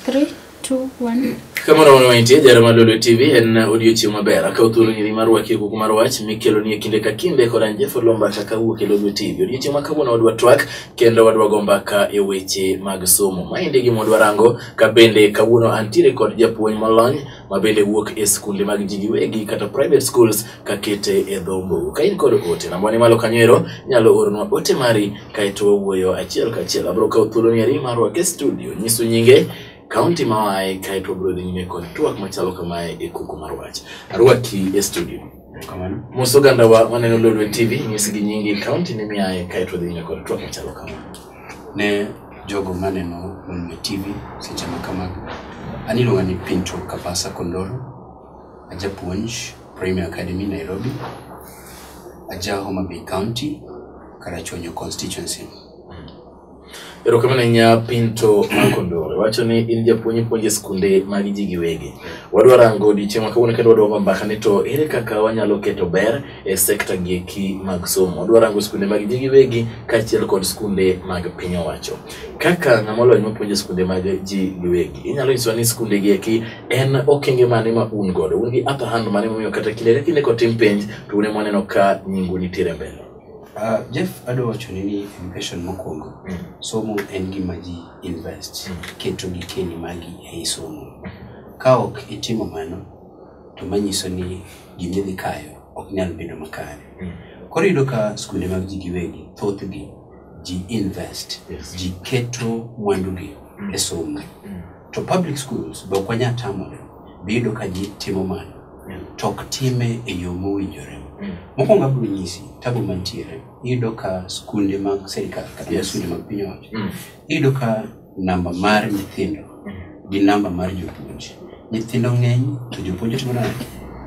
Three, two, one. kamano wan wantie jaro mar lolo tv en odiochieng' maber akaw thuolo nyiri mar waki kuku mar wach mikelo ni e kinde ka kinde kod an jefo lombata ka wuok e lolo tv odiochieng' ma kawuono wadwa twak kendo wadwa go mbaka e weche mag somo maendi gima wadwa rango ka bende kawuono antiere kod japuonj molony ma bende wuok e skunde mag ji giwegi kata private schools kakete e dho mbugu ka in kod ote nambwa ni malo kanyo ero nyalo oronwa ote mari kaeto wawuoyo achiel kachiel abiro kawo thuoloni ari marwa ke studio nyisu nyinge kaunti ma waye kaeto wabiro dhi nyime kod twak machalo kamae e kuku mar wach arwaki e studio Kamano. mos ogandawa maneno lolwe tv nyisgi nyingi kaunti ni miaye kaeto dhi nyime kod twak machalo kama ne jogo maneno Mwanme TV seche ma kamago. An iluonga ni Pinto Kabasa Kondoro, ajapuonj Premier Academy Nairobi, aja Homa Bay County, Karachuonyo constituency. Erokamano ahinya Pinto Makondore. Wacho ni in japuonj ipuonjo e skunde mag ji giwegi. Wadwa rango odiechieng' ma kawuono kendo wadwa go mbaka ni to ere kaka wanyalo keto ber e sekta gi eki mag somo. Odwa rango skunde mag ji giwegi kaachiel kod skunde mag piny owacho. Kaka ng'ama olony mapuonjo skunde mag ji giwegi, inyalo nyisowa ni skunde gi eki en okenge mane ma un godo? Un gi upper hand mane momiyo kata kinde ka kinde kotim penj to un ema waneno ka nyingu nitiere mbele? Uh, Jeff adwa wacho ni ni education mokwongo mm. somo en gima ji invest mm. keto gikeni magi ei somo ka ok itimo mano to manyiso ni gima idhi kayo ok nyal bedo makare mm. koro yudo ka skunde mag ji giwegi thothgi ji invest yes. ji keto mwandugi mm. e somo mm. to public schools be ok wanya tamore biyudo ka ji timo mano mm. to ok time e yo mowinjore mm. mokwongo abiro nyisi tabu mantiere iyudo ka skunde mag serikal kata yes. skunde mag piny owacho mm. iyudo ka namba mar nyithindo gi namba mar jopuonj nyithindo ng'eny to jopuonj timo nade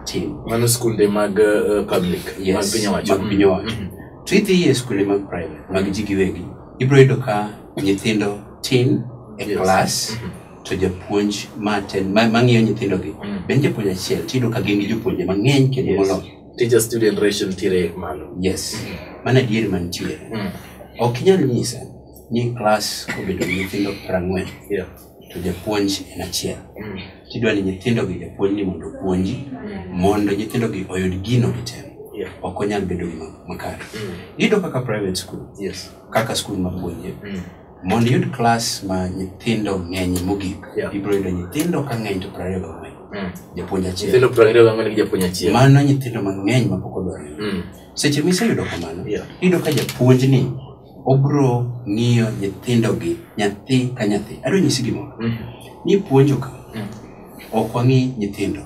tin mano skunde mag uh, public mag yes piny owacho mag piny owacho Mhm. to idhi e skunde mag private mag ji giwegi ibiro yudo ka nyithindo tin e Yes. klas Mhm. to japuonj maten ma- mang'iyo nyithindogi Mm. be en japuonj achiel tiyudo ka gin gi jopuonje mang'eny kendo Yes. moloyo teacher student ratio nitiere malo yes mana adier mantiere Mm. ok inyal nyisa ni klas obedo gi nyithindo prang'wen yeah. to japuonj en achiel mm. tidwa ni nyithindo gi japuonj ni mondo opuonji mm. mondo nyithindo gi oyud gino gitemo yeah. ok onyal bedo gima makare mm. iyudo kaka private school yes. kaka skul mapuonje mm. mondo iyud klas ma nyithindo ng'eny mogik yeah. ibiro yudo nyithindo ka ng'eny to prariyo gang'wen mm. japuonj achiel mano nyithindo mang'eny mapok odwarore mm. seche miseyudo kamano yeah. iyudo ka japuonj ni obro ng'iyo nyithindogi nyathi ka nyathi adwa nyisi gimoro mm. ni puonjo ka mm. ok wang'i nyithindo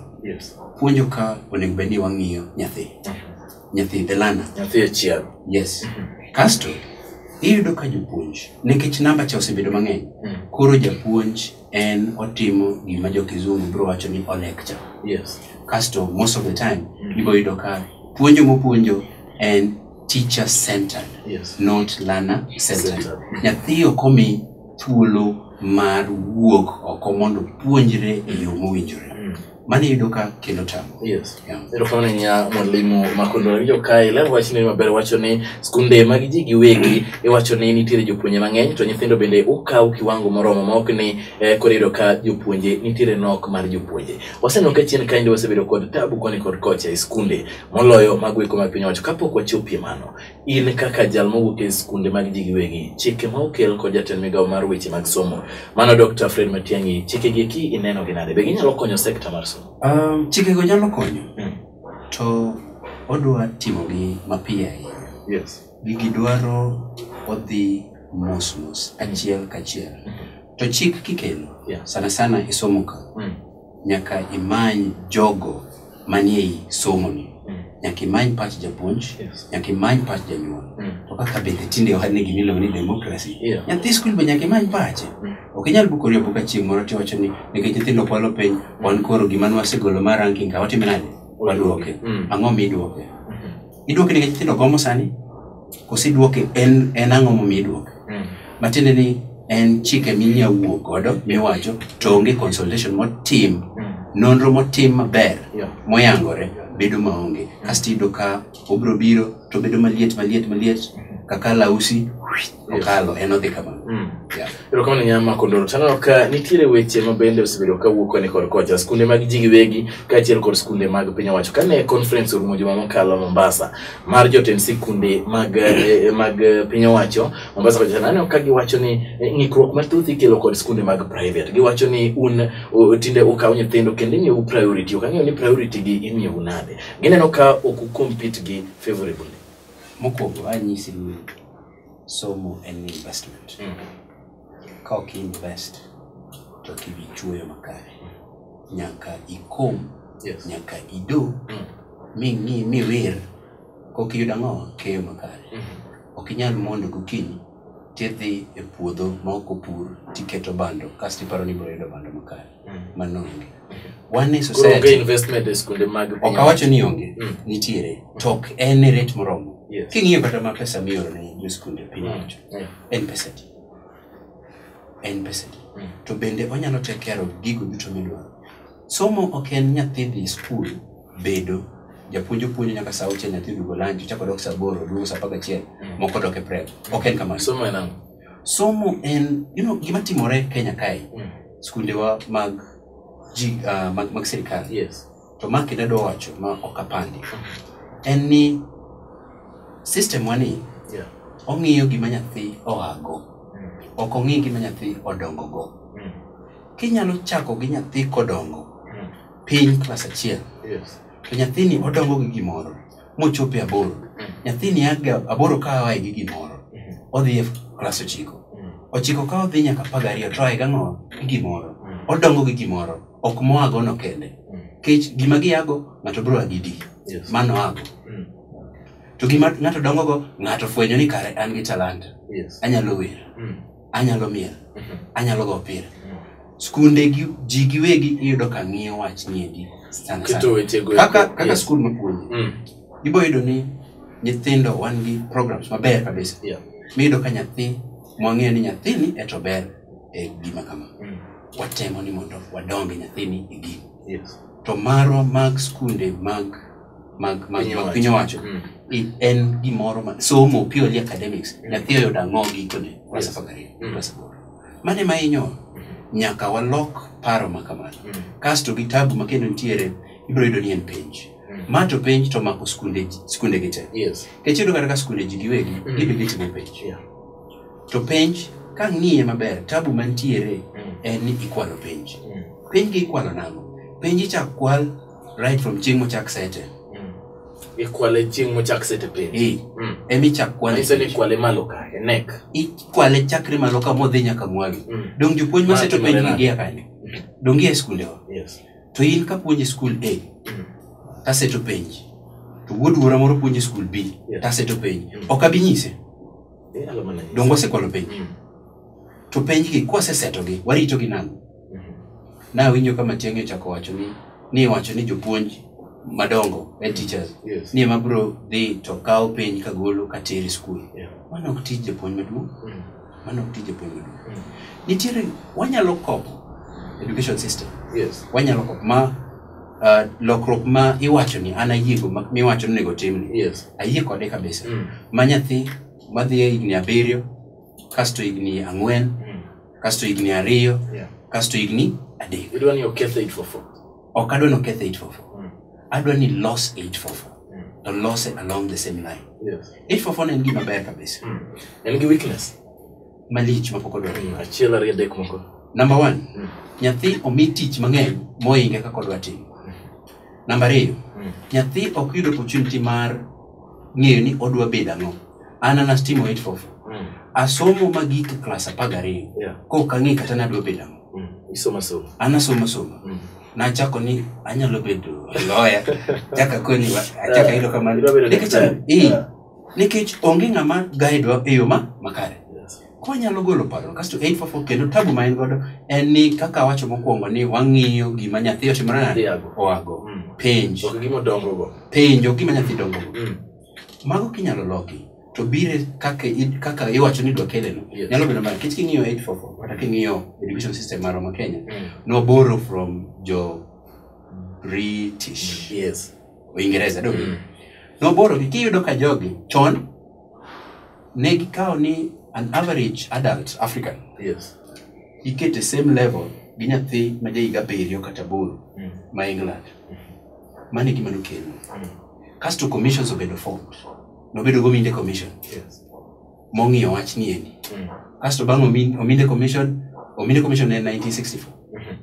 puonjo ka onego bed ni wang'iyo nyathi mm-hmm. nyathi the learner nyathi achiel yes mm-hmm. kasto iyudo ka jopuonj nikech namba cha osebedo mang'eny mm. koro japuonj en otimo gima jo kizungu bro wacho ni olecture yes. kasto most of the time mm. iboyudo ka puonjo mopuonjo en teacher centered Yes. not learner centered Centered. nyathi ok omi thuolo mar wuok oko mondo puonjre e yo mowinjore Mm. mano iyudo ka kelo tamo Yes. Yeah. erokamano ahinya mwalimu makondo winjo ka iler wachni maber wacho ni skunde mag ji giwegi iwacho ni nitiere jopuonje mang'eny to nyithindo bende ukaw kiwango moromo ma ok ni eh, koro iyudo ka jopuonje nitiere nok mar jopuonje waseneno ka chien kaendi wasebedo kod tabu koni kod kocha e skunde moloyo mago eko mag piny owacho. Kapok wachopie mano, in kaka jal mowuok e skunde mag ji giwegi, chike ma okel kod jatend migawo mar weche mag somo, mano Dr. Fred Matiang'i, chikegi eki ineno gi nade? Be ginyalo konyo sekta mar somo? Um, chikego nyalo konyo Mm. to odwa timogi mapiyo ahinya Yes. gigi dwaro odhi mos mos achiel kachiel to chik kikelo Yeah. sana sana isomo ka Mm. nyaka imany jogo manie i somoni Mm. nyaka imany pach japuonj Yes. nyaka imany pach janyuol Mm. to kaka bende tinde ohad ni gima iluongo ni democracy Yeah. nyathi skul be nyaka imany pache Mm. ok inyal bukori abuka chieng' moro tiwacho ni nikech nyithindo kwalo piny wan koro gima nwasegolo mar ranking ka watime nade wadwoke Mm. ang'o midwoke Iduoke nikech nyithindo gomo sani? Koso iduoke en, en ang'o momiyo iduoke? Mm. Matiende ni en chike minya wuo godo miwacho to onge consultation motim Mm. nonro motim maber Yeah. moyangore bedo maonge kasto iyudo ka obiro biro to bedo maliet maliet maliet kaka lausi okalo en odhi kama Mm. Yeah. erokamano nyama makondoro taneno ka nitiere weche ma bende osebedo ka wuok koni kod kocha skunde mag ji giwegi kaachiel kod skunde mag piny owacho kane conference orumo juma mokalo mombasa mar jotend sikunde mag, eh, mag eh, piny owacho mombasa kocha naneno ka giwacho ni eh, ng'ikruok mathoth ikelo kod skunde mag private giwacho ni un o- tinde ukaw nyithindo kendo imiyou priority ok ang'eyo ni priority gi imiyou nade gineno ka ok ucompete gi favorably mokwongo anyisi luor somo en investment mm. ka ok invest to ok ibi chuoyo makare nyaka ikom yes. nyaka ido mm. ming'i miwir kok iyud ang'o keyo makare mm -hmm. ok inyal mondo gokinyi tidhi e puodho ma ok opur tiketo bando kasto iparo ni ibiro yudo bando makare mano onge wan e society investment e skunde mag piny ok awacho ni onge mm. nitiere to ok en e rate moromo yes. king'iyo kata ma pesa mioro ne jo skunde piny owacho mm. yeah. en pesa di en pesa di mm. to bende onyalo take care of gigo duto midwaro somo ok en nyathi dhi skul bedo japuonj opuonjo nyaka saa auchiel nyathi dugo lanji chako dok saa aboro duogo saa apar gachiel mm. moko dok e prep ok en kamano somo en you know, gima timore kenya kae Mm. skundewa mag ji uh, mag, mag sirikal Yes. to ma kendo adwa wacho ma ok apandi en ni system wani Yeah. ong'iyo gima nyathi oago Mm. ok ong'i gima nyathi odongogo Mm. kinyalo chako gi nyathi kodongo Mm. piny klas achiel Yes. to nyathini odongo gi gimoro mochopo e aboro nyathini aga aboro ka oa gi gimoro odhi e klas ochiko ochiko ka odhi nyaka apar gariyo to oa gang'o gi gimoro odongo gi gimoro ok moagono kende kech gima giago ng'ato biro agi di mano ago to gima ng'ato dongogo ng'ato fwenyo ni kare an gi talanta anyalo wer anyalo miel mhm. anyalo go pira mhm. skunde ji giwegi iyudo ka ng'iyo wach niendi kaka skul mapuonji mm. ibo yudo ni nyithindo wan gi programs maber kabisa miyudo ka nyathi mwang'eyo ni nyathini eto ber e gima kama mm. watemo ni mondo wadonge nyathini e gini to marwa mag skunde mag mag mag Piny mag owacho. piny owacho Mm. i- en gimoro ma somo purely academics nyathi oyudo ang'o gikone klas Yes. apar gariyo Mm. klas aboro mane ma inyowa nyaka walok paro ma kamano Mm. kasto gi tabu ma kendo nitiere ibiro yudo ni en penj Mm. ma to penj to mako skunde skunde gi te Yes. kech iyudo kata ka skunde ji giwegi Mm. gibe gitimo penj Yeah. to penj ka ng'iye maber tabu mantiere Mm. en ni ikwalo penj Mm. penj gi ikwalo nang'o penj ichak kwal right from chieng' mochak sete ikwale chieng' mochak sete piny Eh, Mm. ema ichak kwane Manyiso ni kwale malo ka e nek ikwale chakre malo ka modhi nyaka mwagi Mm. dong jopuonj Ma maseto timore penj nade? gigia kanyo dong gia e skundewa yes to in kapuonj e skul a Mm. taseto penj to wuod wuora moro puonjo e skul b Yeah. taseto penj Mm. ok abi nyise Eh, alo mana nyisi. dong wasekwalo penj Mm. to penjgi kwasesetogi waritogi nang'o Nawinjo ka Matiang'i ochako wacho ni ni wacho ni jopuonj madongo head teachers Yes. ni ema biro dhi to kawo piny ka golo ka tere skul. Yeah. Mano ok tij japuonj maduong', Mm. mano ok tij japuonj maduong'. Mm. Nitiere wanyalo kopo education system Yes. wanyalo kok ma uh, lokruok ma iwacho ni an ayiego ma- miwacho ni onego timni Yes. ayie kode kabisa Mm. ma nyathi madhi e higni abiriyo kasto higni ang'wen Mm. kasto higni ariyo Yeah. kasto higni adek Idwa ni okethe 844. ok adwa ni oketh 844 Mm. adwa ni los 844 Mm. to lose along the same line Yes. 844 ne en gima ber kabisa Mm. En gi weakness. malich mapok odwar Mm. Achiel ariyo adek moko. number one Mm. nyathi omi tich mang'eny moinge kaka odwa timo Namba ariyo, nyathi ok yud opportunity mar ng'eyo ni odwa bedo ang'o. An an a STEAM 844. Asomo magik e klas apar gariyo. Yeah. Kok ang'e kata nadwa bedo ang'o. Isoma somo. An asomo somo. Nachako ni anyalo bedo loya. Chaka koni achaka yudo kamano. Idwa bedo Nikech daktari. eh, nikech onge ng'ama guide wa e yo ma makare. konyalo golo paro kasto 844 kendo tabu ma en godo en ni kaka wacho mokwongo ni wang'iyo gima nyathi otimore nade Dhiago. oago Mm. penj Ok gima odongogo. penjo gima nyathi dongo Mm. mago kinyalo loki to bire kaka i- kaka iwacho ni dwakeleno Yes. nyalo bedo mar kech king'iyo 844 kata king'iyo education system marwa ma kenya Mm. noboro from jo british Yes. uingereza do Mm. noborogi kiyudo ka jogi chon ne gikawo ni an average adult african yes ikete same level gi nyathi ma jahiga abiriyo kata aboro Mm. ma england mano e gima nokelo Mm. kasto commissions obedo formed nobedo gominde commission yes mong'iyo wach ni endi Mm. kasto bang' Omin- ominde commission ominde commission en 1964 Mhm.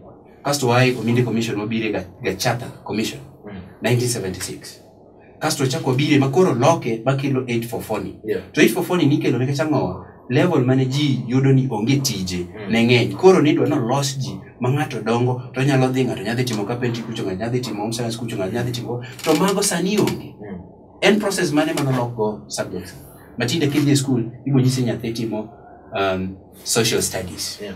kasto wae ominde commission wabire ga, ga charter commission Mm. 1976 kasto ochako bire ma koro loke ma kelo 844 ni Yeah. to 844 ni nikelo nikech ang'owa level mane ji yudo ni onge tije Mm. ne ng'eny koro nidwa nolos ji ma ng'ato dongo to nyalo dhi ng'ato nyadhi timo kapenti kucho ng'ato nyadhi timo home science kucho ng'ato nyadhi timo to mago sani onge Mm. en process mane ma nolokgo subjects matinde kidhi e skul ibonyisi nyathi timo um, social studies Yeah.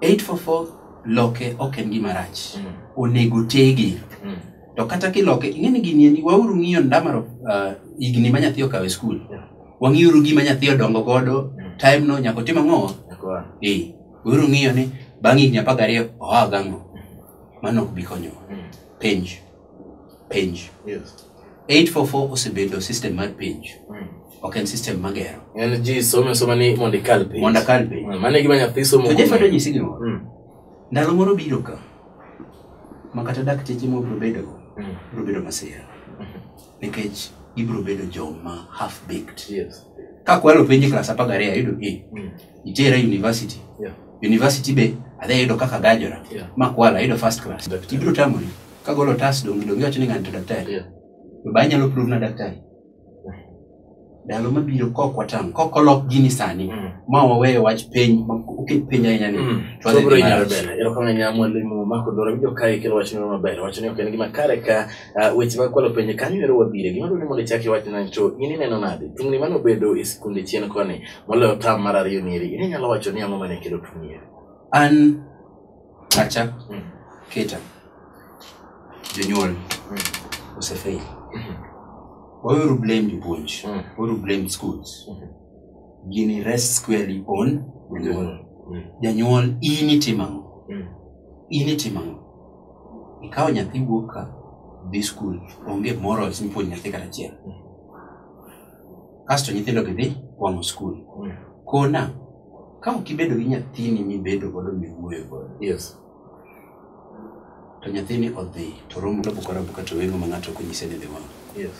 844 loke ok en gima rach Mm. onego tege Mm. to kata kiloke ing'e ni gini endi wauru ng'iyo ndamaro uh, higni ma nyathi okawe skul Yeah. wang'iuru gima nyathi odongo godo Mm. time no nyaka otim ang'o Nakuwa. eh wauru ng'iyo ni bang' higni apar gariyo oa gang'o mano ok bi konyowa Mm. penj penj yes. 844 osebedo system mar penj mm. ok en system magero en ji some soma ni mondo ikal penj mondo akal penj mm, mano e gima nyathi somo to jefado nyisi gimoro mm. ndalo moro biro ka ma kata dakteche ma obiro bedo mm. biro bedo masira mm-hmm. nikech gibiro bedo joma half baked yes. ka kwalo penj klas apar gariyo ayudo e mm. itera university Yeah. university be adhi ayudo kaka gajora Yeah. makwala ayudo first class Daktari. ibiro tamori kagolo otas dongi dongi wacho ni ng'ani to daktari Yeah. to ba inyalo prove na daktari ndalo mabiro kok watang' kok olok gini sani Mm. ma waweyo wach piny ma oket piny ahinya ni Mm. to adhi Sobro dhi inyalo marach. bela. Erokamano ahinya mwalimu Mark Odoro. Winjo ka ikelo wach moro maber. Wacho ni ok en gima kare ka ah, weche mag kwalo penjo kanyo ero wabire. Gima dwaro ni mondo ichak iwach nani to in ineno nade? Tungni mane obedo e sikunde chien koni moloyo tam mar ariyo ni eri in inyalo wacho ni ang'o mane kelo tuo ni eri an pacha Mm. keta jonyuol Mm. osefail Mhm. waweuru blame jopuonj Mm. waweuru blame schools Mhm. gini rest squarely on jonyuol Mm. janyuol in itimo ang'o Mm. in itimo ang'o ikawo nyathi wuok ka dhi skul onge morals mipuonjo nyathi kata achiel kasto nyithindo gi dhi wang'o skul Mm. kona ka ok ibedo gi nyathini mibedo godo miwuoyo godo yes to nyathini odhi to romo bukora buka to weng'o ma ng'ato ok onyise ni dhi wang'o yes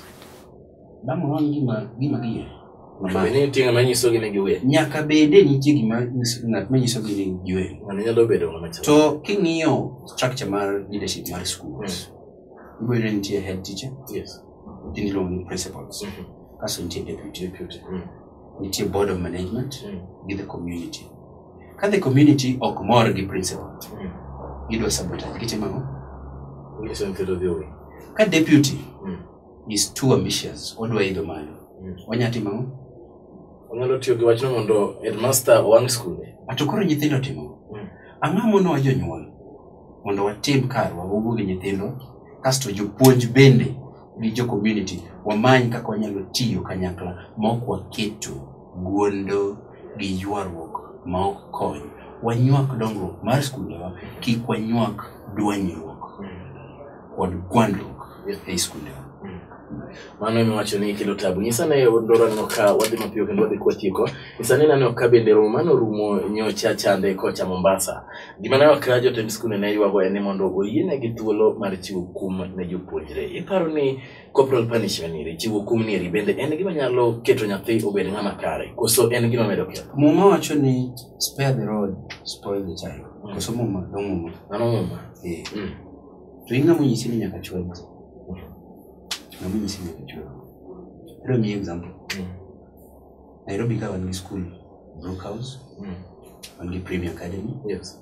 damo wang' gima gima giye Mama, ni tinga manyiso gi ne giwe nyaka bede nitie gima nyiso- ng'at manyiso gi ni giwe ng'ano nyalo bedo ng'ama chal to king'iyo structure mar leadership mar schools iboyudo ni nitie head teacher yes in law ni principles mm -hmm. kaso nitie deputy, deputy. Mm. nitie board of management mm. gi the community ka the community ok mor gi principal mm. gidwa sabotage gitimo ang'o ka deputy mm. is too ambitious odwa idho malo mm. onya timo ang'o onyalo tiyo gi wachno mondo headmaster owang' skunde ato koro nyithindo timo mm. ang'o mono wa jonyuol mondo watim karwa wawuo gi nyithindo kasto jopuonj bende gi jo community wamany kaka wanyalo tiyo kanyakla ma ok waketo guondo gi ywaruok ma ok kony wanywak dongruok mar skundewa kik wanywak dwanyruok kod gwandruok ei skundewa mano ema wacho ni kelo tabu nyisa ne ndoro aneno ka wadhi mapiyo kendo wadhi kwachiko nyisa ni naneno ka bende romo mano rumo nyocha chande kocha mombasa gima ne wakra jotend skunde ne ywago en ni mondo oyienegi thuolo mar chiwo kum ne jopuonjre iparo ni corporal punishment iri chiwo kum ni iri bende en gima nyalo keto nyathi obed ng'ama kare koso en gima medo ketho muma wacho ni spare the rod spoil the child koso muma dho muma mano muma Eh, Mm. To in ng'ama onyisi ni nyaka chwal ji? Ng'ama onyisi ni nyaka chwal? Adwa miyi example. Nairobi ka wan gi skul Brook House, wan gi Premier Academy, Yes.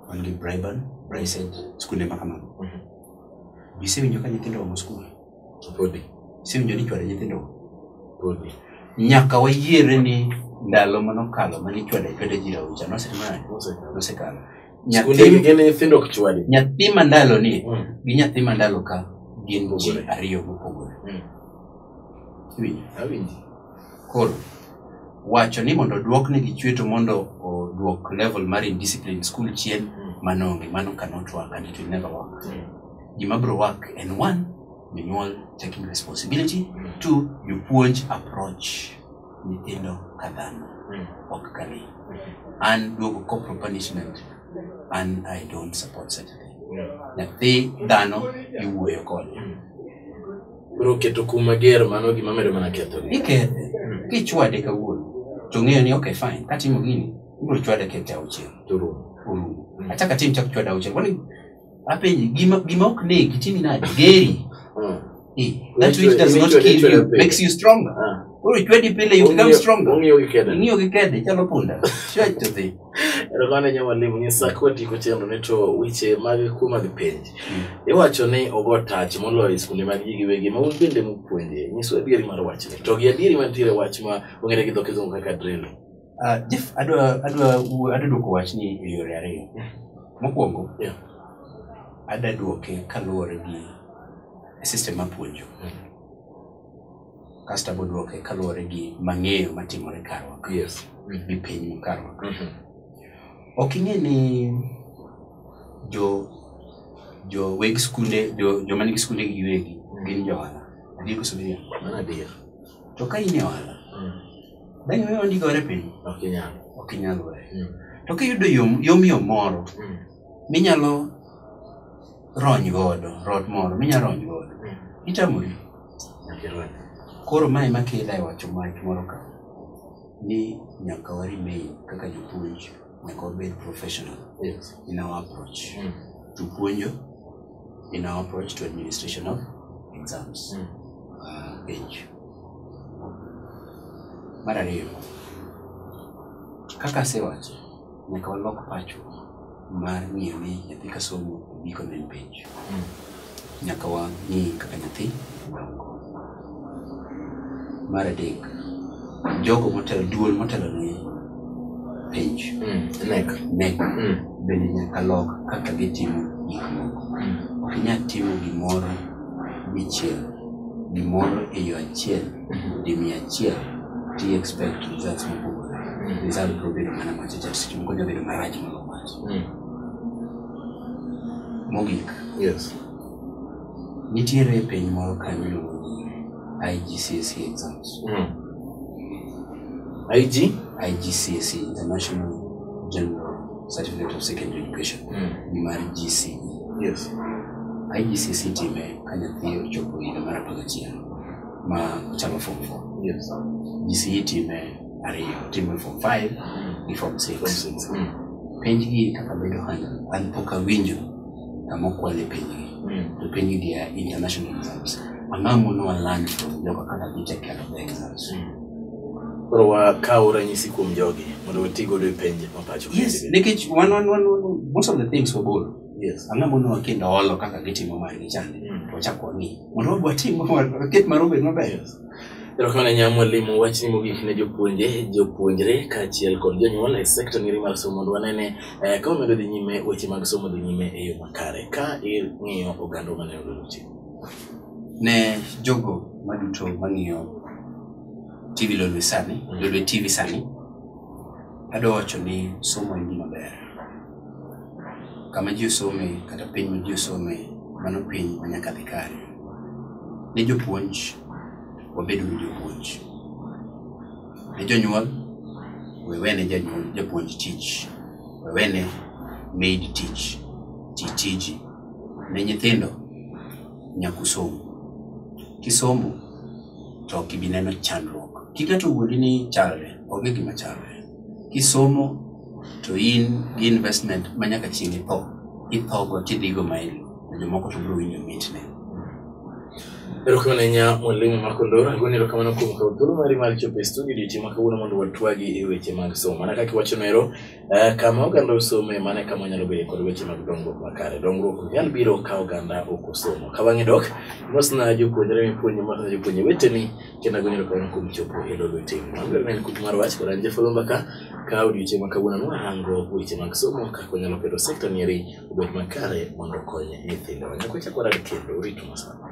wan gi Briban, Bricet, skunde ma kamago. Mhm. Be isewinjo ka nyithindo omo skul? Podi. Isewinjo ni ichwado nyithindo? Podi. Nyaka wayiere ni ndalo manokalo mane ichwado ichwado ji rawocha nosetimane? Osekalo. Nosekalo. Skunde nyathi gin nyithindo ok chwadi. nyathi mandalo ni Mm. gi nyathi mandalo ka gin ji Mopogore. ariyo mopogore Mm. Iwinjo? Awinji. koro wacho ni mondo oduok ni gichweto mondo oduok level mar indiscipline e school chien Mm. mano onge mano cannot work and it will never work Mm. gima bro work en one jonyuol taking responsibility Mm. two jopuonj approach nyithindo ka dhano ok ka lee an duogo corporal punishment an i don't support such a thing nyathi dhano iwuoyo kode Koro keto kum mager mano gima medo mana ketho. ikethe kichwade kawuono to ng'eyo ni okay fine katimo gini ibiro chwada kete auchiel To rum. orumo achaka tim chak chwada auchiel kwani apenji gima gima ok negi timi nade geri Mm. Eh, that Nature- which does not nature- kill nature you pile. makes you stronger Ah. koro chwedi pile you become Ong'iyo- stronger ong'iyo gi kede. ing'iyo gi kede chalo punda chwech to dhi erokamano nyo mwalimu nyisa kotieko chenro ni to weche mag kuo mag penj iwacho ni ogo tach moloyo e skunde mag ji giwegi ma un bende mupuonje nyiswa adieri mar wachni to gi adieri mantiere wach ma ong'ere gi dho kizungu kaka drill Ah, Jeff, adwa adwa adwa duoko wachni e yore ariyo. Mokwongo, Yeah. ada duoke kaluwore gi system mapuonjo. Kasto abo duoke kaluwore gi mang'eyo matimore karwa ka, Yes. gi piny ma karwa ka. Mhm. Ok ing'e ni jo jo weg skunde jo joma nigi skunde gi giwegi gin jo ohala. Adier koso giriambo? Mano adier. To ka in e ohala, Mm. Dang' iwe wandi gore piny? Ok inyal. Ok inyal we. Mm. To kiyudo yom yom yom moro mm. minyalo rony godo, rot moro minyalo rony godo. Mm. Itamori. Koro mae makela e wacho mach moro ka ni nyaka wari mail kaka jopuonj. nyaka wabed professional Yes. in our approach Mm. to puonjo in our approach to administration of exams Mm. uh, penj mar ariyo kaka asewacho nyaka walok pacho mar ng'iyo ni nyathi kasomo giko ne penj Mm. Nyaka wang'i kaka nyathi. Mar adek, jogo motelo, duol motelo ne penj. Mm. Nek. Nek. Mm. Bende nyaka lok kaka gitimo gik moko. Mm. Ok inyal timo gimoro dichiel, gimoro e yo achiel, mm-hmm. di mia achiel, ti expect results mopogore. Mm. Result biro bedo mana macho cha, seche moko onya bedo marach moloyo mach. Mm. Mogik. Yes. Nitiere penj moro kanyo iluongo ni IGCSE exams. Mm. IG? IGCSE, International General Certificate of Secondary Education. Mm. Ni mar GCE. Yes. IGCSE time ka nyathi ochopo higa mar apar gachiel ma ochako form four. Yes. GCE time ariyo timo form five gi form six penjgi kaka bedo handle an pok awinjo kama okwale penjgi to penjgi gi are international exams ang'o mono waland from jogo kaka gicha kelo the exams koro wakaw ranyisi kuom jogi mondo wati godo e penj mapacho yes nikech one one one one most of the things wagolo yes ang'o mono wakindo olo kaka gitimo margi chande Mm. to wachak wang'i mondo watim waket mar obed maber Erokamano Nya Mwalimu, wachni mogik ne jopuonje, jopuonjre kaachiel kod jonyuol e sekta ngiri mar somo mondo wanene eh, ka wamedo dhi nyime weche mag somo dhi nyime e yo makare ka ing'iyo oganda ma ne oluwo chik. ne jogo maduto mang'iyo TV Lolwe sani, Lolwe TV sani, adwa wacho ni somo en gima ber. kama ji osome kata piny ma ji osome mano piny ma nyaka dhi kare ne jopuonj wabed uru jopuonj ne jonyuol wewene janyuol japuonj tich wewene maid tich ti tiji ne nyithindo nyakusomu kisomo to ok ibi neno chandruok. Kiketo wuodi ni chalre, onge gima chalre. Kisomo to in gi investment ma nyaka chieng' itho, ithogo tidhigo maili, to jomoko to biro winjo mitne. Erokamano ahinya mwalimu Marco Ndoro, agoni erokamano kuom kawo thuolo mari mar chopo e studio odiochieng' ma kawuono mondo watwagi e weche mag somo. Mana kaka iwachono ero, Eh, kama oganda osome mane kama wanyalo bedo kod weche mag dongruok makare dongruok ok nyal biro ka oganda ok osomo ka bang'e dok mosna jopuonjre mipuonjo mosna jopuonje weteni kendo ago nyalo kawono kuom chopo e lolo tim maber ne en kuku mar wach kod an jafalomba ka ka odiochieng' ma kawuono nwarango weche mag somo kaka wanyalo keto sekta nieri obed makare mondo okony nyithindowa nyaka wachak warad kendo uritu masana